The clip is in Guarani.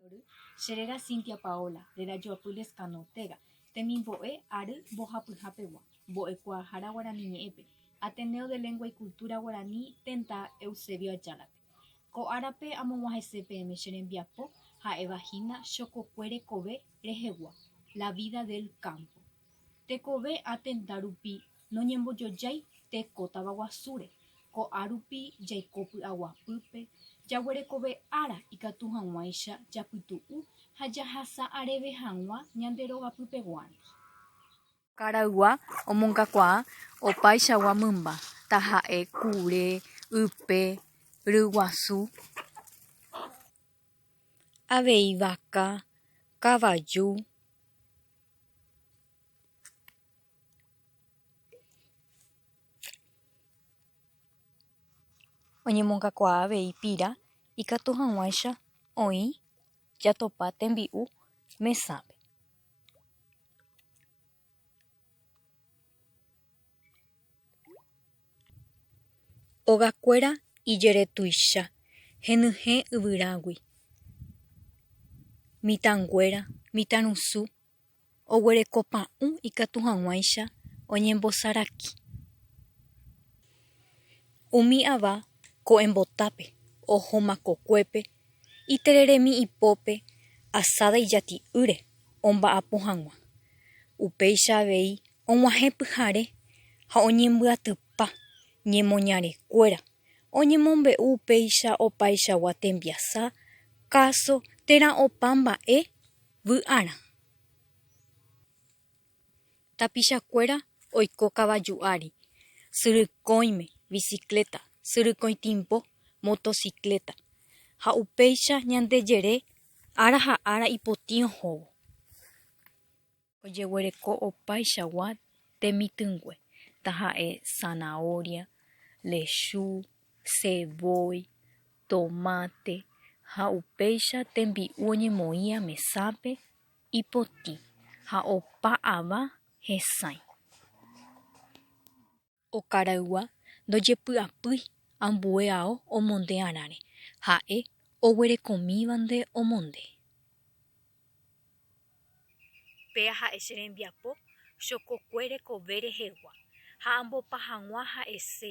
Ary, Che réra Cynthia Paola, réra Joapy Lezcano Ortega, temimbo'e ary mbohapyha pegua, mbo'ekuaahára Guarani Ñe'ẽpe, Ateneo de Lengua y Cultura Guarani tenda Eusebio Ayala-pe. Ko árape amog̃uahẽse peẽme che rembiapo ha'éva hína chokokue rekove rehegua, La vida del campo. Tekove atenda rupi noñembojojái teko tavaguasúre, ko'ã rupi jaiko py'aguapýpe, jaguerekove ára ikatu hag̃uáicha japytu'u ha jahasa areve hag̃ua ñande rogapypeguándi. Karaygua omongakuaa opaichagua mymba, taha'e kure, ype, ryguasu. avei vaka, kavaju, oñemongakuaa avei pira ikatu hag̃uáicha oĩ jatopa tembi'u mesápe. Ogakuéra ijere tuicha henyhẽ yvyrágui, mitãnguéra, mitãrusu, oguereko pa'ũ ikatu hag̃uáicha oñembosaraki. Umi ava ko'ẽmbotápe, oho makokuépe. itereremi ipópe asáda ijati'ýre omba'apo hag̃ua. Upéicha avei og̃uahẽ pyhare ha oñembyatypa ñemoñarekuéra oñemombe'u upéicha opaichagua tembiasa, káso térã opa mba'e vy'arã. Tapichakuéra oiko kavaju ári, syrykõime, bicicleta, syrykõitimbo, motocicleta, ha upéicha ñande jere ára ha ára ipotĩ ohóvo. Ojeguereko opaichagua temitỹngue, taha'e zanahoria, lechu, ceboy, tomate ha upéicha tembi'u oñemoĩva mesápe. Ipotĩ ha opa ava hesãi. Okaraygua ndojepy'apýi ambue ao omonde arãre, ha'e oguerekomívante omonde. Péa ha'e che rembiapo chokokue rekove rehegua, ha ambopa hag̃ua ha'ese